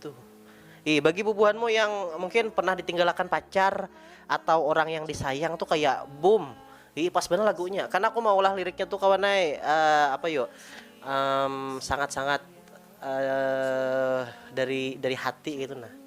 Tuh. Ih, bagi bubuhanmu yang mungkin pernah ditinggalakan pacar atau orang yang disayang tuh kayak boom. Ih, pas banget lagunya. Karena aku mau ulah liriknya tuh kawan ay, uh, apa yuk? Um, sangat-sangat uh, dari dari hati gitu nah.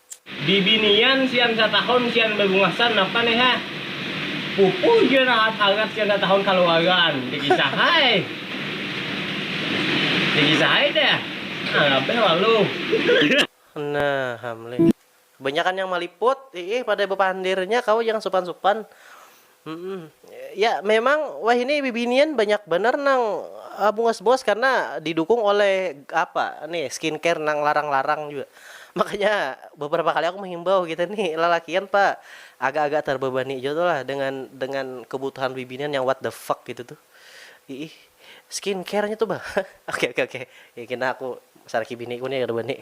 Bibinian sian satahun sian babungasan napa ni ha. Pupu jua nang hangat-hangat sian satahun kaluaran. Dikisah ai. Dikisah ai dah. Anggap bae lalu. Nah ham lih. Kebanyakan yang maliput, iih pada bapandirnya kawa jangan supan-supan. Hmm, ya memang wahini bibinian banyak banar nang bungas-bungas karna didukung oleh apa nih skincare nang larang-larang jua. Makanya beberapa kali aku menghimbau kita nih lalakian pa agak-agak terbebani jua tuh lah dengan dengan kebutuhan bibinian yang what the fuck gitu tuh. Iih, skincare-nya tuh bah. Oke oke oke. Kena aku saraki biniku nih kada wani.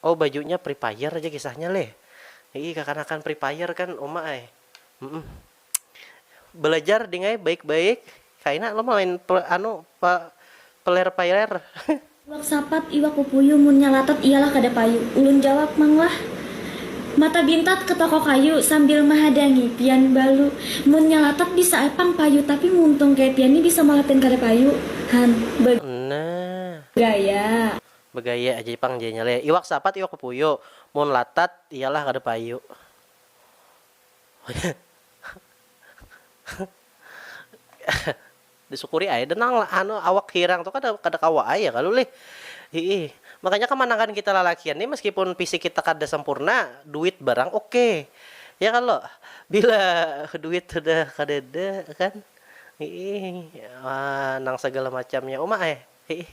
Oh bajunya free fire ja kisahnya leh iih kakanakan free fire kan uma ai mm belajar ding ai baik baik kaina lo main anu pa player fire. Iwak sapat, iwak pupuyu munnya latat iyalah kada payu. Ulun jawab mang lah. Mata bintat ke toko kayu sambil mahadangi pian balu. Munnya latat bisa ai pang payu tapi muntung kaya pian ni bisa malah pian kada payu han. Nah. Gaya. Bagaya aja pang jar inya leh. Iwak sapat iwak pupuyu. Mun latat iya lah kada payu. Disukuri ai dah nang anu awak hirang tu kada kada kawa ai ya kalu lih. Hiih. Makanya kamanangan kita lalakian ni meskipun fisik kita kada sempurna, duit barang oke. Ya kalo? Bila duit sudah kadada kan hiih nang sagala macamnya uma ai. Hiih.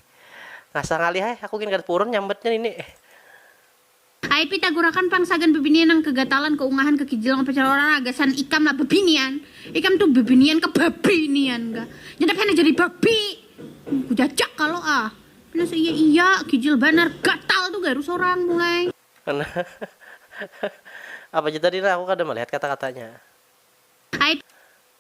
Ngasah ngalih ai, aku gin kada purun nyambatnya nini. Ai pita gurakan pang sagan bibinian nang kegatalan, keungahan, kekijilan apa cara orang lah gasan ikam lah bibinian. Ikam tu bibinian kah babinian kah. Nyadap hena jadi babi. Kujajak kalo ah. Pina seiya iya, kijil banar, gatal tu garu sorang mulai. Nah. Apa ja tadi nah aku kada malihat kata-katanya. Ai.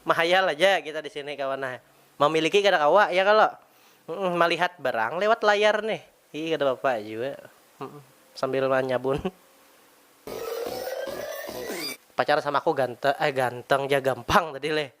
Mahayal aja kita di sini kawan nah. Mamiliki kada kawa, ya kalo? Malihat barang lewat layar nih. Ii kada papa jua. Sambil manyabun. Pacar sama aku ganteng, eh ganteng ja gampang tadi leh.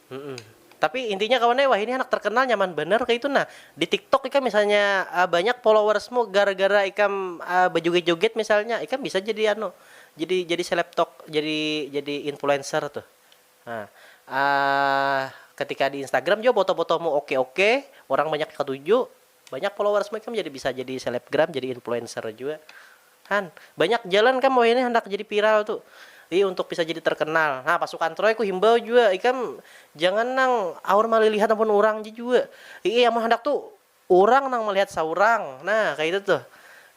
Tapi intinya kawan ai wahini handak terkenal nyaman banar kaitu nah. Di tiktok ikam misalnya banyak followersmu gara gara ikam bajoget joget misalnya ikam bisa jadi anu jadi jadi selebtok jadi jadi influencer tuh ketika di instagram jua foto fotomu oke oke orang banyak katuju. Banyak followers mu ikam jadi bisa jadi selebgram jadi influencer jua han banyak jalan kam wahini handak jadi viral tu i untuk bisa jadi terkenal nah pasukan troy ku himbau jua ikam jangan nang aur malilihat ampun urang ja jua iih amun handak tu urang nang malihat saurang nah kaya itu tuh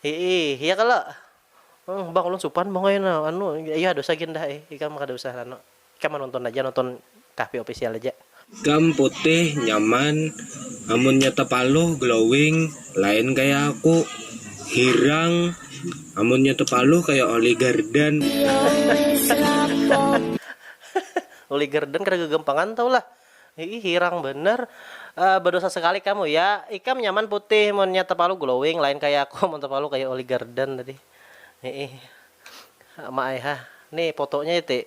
iih ya kalo. Bang ulun supan bang ai na anu iya dosa gin dah ai ikam kada usah anu. Ikam nonton aja nonton Kahpi official aja. Ikam putih nyaman amunnya tepaluh glowing lain kaya aku hirang amunnya tepaluh kaya oli garden. Oli garden kada gagampangan tahu lah iih hirang banar ah badosa sekali kamu ya ikam nyaman putih munnya tepaluh glowing lain kaya aku amun tepaluh kaya oli garden tadi iih. Mak ai hah ni potonya iti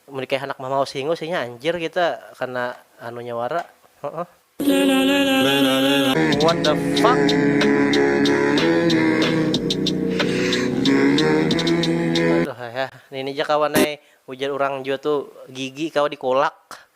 mun dikaya handak mamaus hingus inya anjir kita kana anunya wara huh. What the fuck. Aduh ai hah nini ja kawan ai ujar urang jua tu gigi kawa dikolak.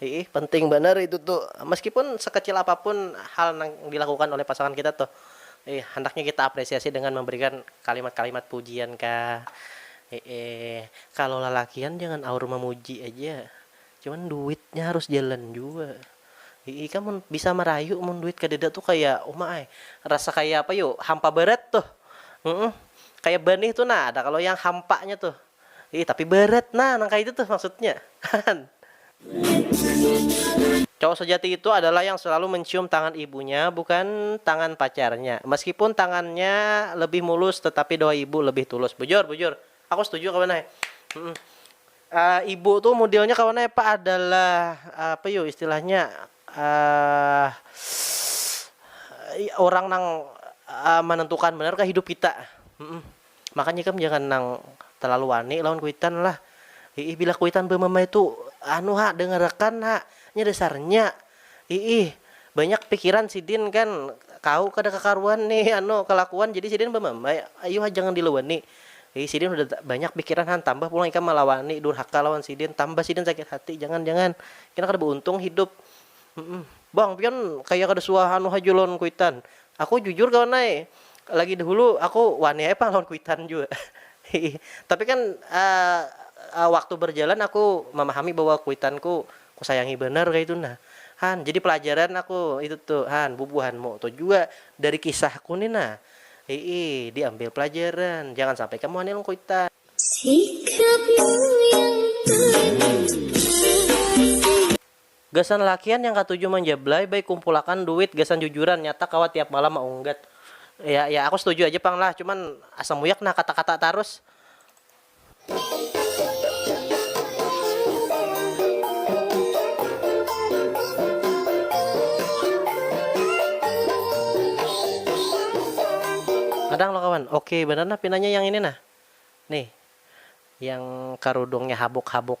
Hiih, penting banar itu tu. Meskipun sekecil apapun hal nang dilakukan oleh pasangan kita tuh, hiih, handaknya kita apresiasi dengan memberikan kalimat-kalimat pujian kah. Hiih, kalo lalakian jangan aur memuji aja, cuman duitnya harus jalan jua. Hiih, ikam mun bisa marayu mun duit kadada tuh kaya, uma ai, rasa kaya apa yu, hampa barat tuh. Humm, kaya banih tuh nah, ada kalo yang hampanya tuh. Ih tapi berat nah nang kaitu tuh maksudnya kan. Cowok sejati itu adalah yang selalu mencium tangan ibunya bukan tangan pacarnya meskipun tangannya lebih mulus tetapi doa ibu lebih tulus bujur bujur aku setuju kawan ai ibu tuh mudelnya kawan ai apa adalah apa yu istilahnya urang nang menentukan banar kah hidup kita. Makanya ikam jangan nang terlalu wani lawan kuitan lah. Iih bila kuitan bemamai tu anu ha dengarakan ha nya dasarnya. Iih banyak pikiran sidin kan kau kada kakaruan ni anu kalakuan jadi sidin bamamai ayu ha jangan dilawani. Iih sidin sudah banyak pikiran han tambah pulang ikam malawani durhaka lawan sidin tambah sidin sakit hati jangan jangan kena kada bauntung hidup. Humm bang pian kaya kada suah anu haja lawan kuitan, aku jujur kawan ai lagi dahulu aku wani ai pang lawan kuitan jua hihi tapi kan waktu berjalan aku mamahami bahwa kuitan ku kusayangi banar kaitu nah han jadi pelajaran aku itu tu han bubuhan mu tu jua dari kisah ku ni nah hihi diambil pelajaran jangan sampai ikam wani lawan kuitan. Sikapmu yang paling terasa. Gasan lakian yang katuju manjablay bay kumpulakan duit gasan jujuran nyata kawa tiap malam maunggat ya ya aku setuju aja pang lah cuman asa muyak nah kata kata tarus. Kadang lo kawan ok banar nah pinanya yang ini nah nih yang karudungnya habuk habuk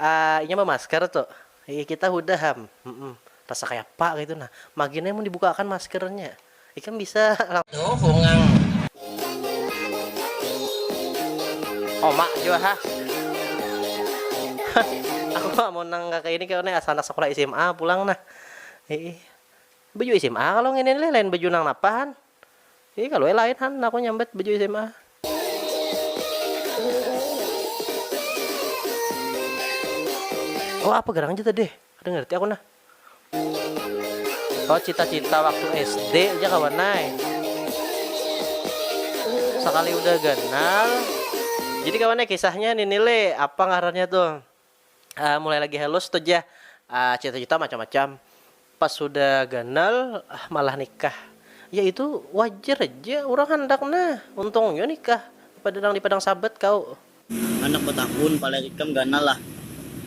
Aaa inya bamasker tu. Iih kita hudah ham. Humm. Rasa kayapa kaitu nah. Magin ai mun dibukaakan maskernya. Ikam bisa langsung. Tu bungang. Uma jua ha. Hah. Aku ma amun nang kaya ini kalo nih asa anak sakulah sma pulang nah. Iih. Baju sma kalo ngini lih lain baju nang napa han. Ih kalu ai lain han aku nyambat baju sma. Oh apa garang ja tadi kada ngerti aku nah. Oh cita cita waktu SD ja kawan ai. Sakali udah ganal. Jadi kawan ai kisahnya ninile apa ngarannya tuh. mulai lagi halus tuh jah cita-cita macam-macam pas sudah ganal malah nikah ya itu wajar aja orang handak nah untung jua nikah pada nang di padang sabat kau. Handak batakun paler ikam ganal lah.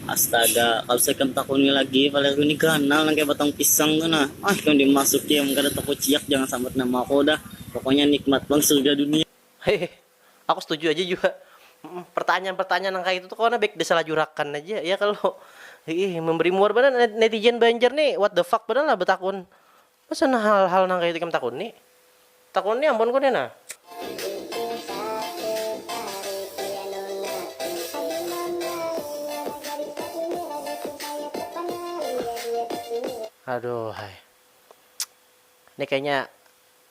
Astaga kalu sa ikam takuni lagi palerku ni ganal nang kaya batang pisang tu nah ah ikam dimasuki am kada takuciak jangan sambat nama aku dah pokoknya nikmat pang surga dunia. Hehe Aku setuju aja jua pertanyaan-pertanyaan nang kaitu tu kawa nah baik disalajurakan aja ya kalo iih memberi muar banar netizen banjar nih what the fuck banar lah betakun masa nah hal-hal nang kaitu ikam takuni takuni ampun ku nih nah. Aduhhai. Ini kayaknya.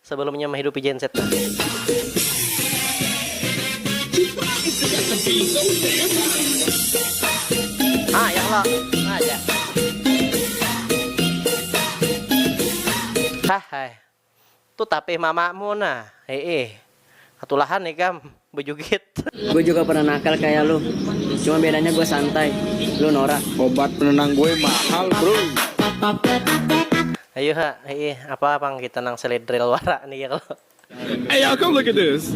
Sebelum inya mahidupi genset nah. Hahai. Tu tapih mamamu nah. Hiih. Katulahan ikam bejugit. Gue juga pernah nakal kaya lu, cuma bedanya gue santai, lu norak. Obat penenang gue mahal bro. Ayu ha, hiih apa pang kita nang selidril wara nih ya kalo. Hey y'all come look at this.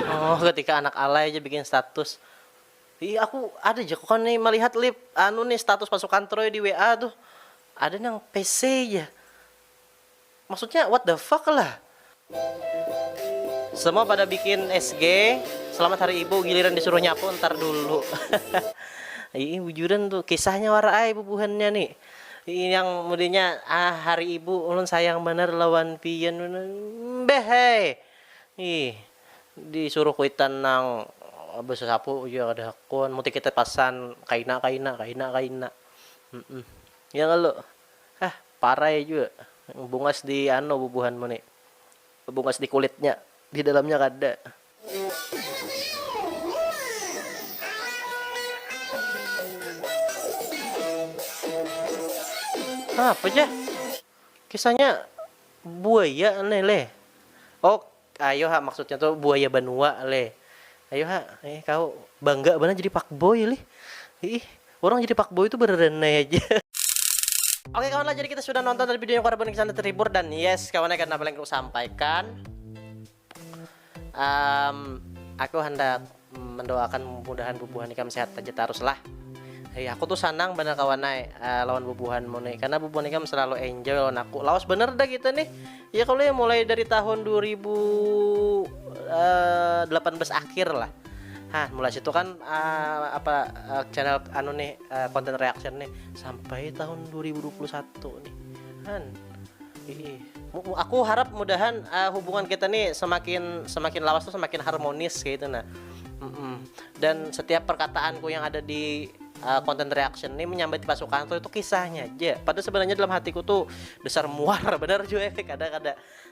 Oh ketika anak alay aja bikin status. Ih aku ada ja kok nih melihat lip anu nih status pasukan troy di WA tuh. Ada nang pc ja. Maksudnya what the fuck lah. Semua pada bikin SG Selamat hari ibu giliran disuruh nyapu ntar dulu Ii bujuran tuh kisahnya wara ai bubuhannya ni Ii yang mudanya ah hari ibu ulun sayang banar lawan pian mbeh ai Ii disuruh kuitan nang besasapu ja kada hakun muti kita pasan kaina kaina kaina kaina. Ya kalo hah parai jua bungas di anu bubuhan mu ni bungas di kulitnya di dalamnya kada. Apa ja kisahnya buaya ne leh ok. Ayo ha maksudnya tu buaya banua leh ayo ha eh kaw bangga banar jadi fuckboy lih iih urang jadi fuckboy tu bararanai haja. Oke kawan lah jadi kita sudah nonton tadi videonya Korban Kisah Anak Terhibur dan yes kawan ya karena apa yang ku sampaikan um, aku handak Mendoakan mudahan bubuhan ikam sehat haja tarus lah. Hei aku tu sanang banar kawan ai lawan bubuhan mu ni karna bubuhan ikam salalu enjoy lawan aku lawas banar dah kita nih ya kalo ya mulai dari tahun dua ribu delapan belas akhir lah ha mulai situ kan apa channel anu nih content reaction nih sampai tahun dua ribu dua puluh satu nih han. aku harap mudahan uh, hubungan kita nih semakin semakin lawas tuh semakin harmonis kayak gitu nah mm -mm. dan setiap perkataanku yang ada di uh, content reaction ini menyambat pasukan tuh itu kisahnya aja padahal sebenarnya dalam hatiku tuh besar muar bener juga efek ada ada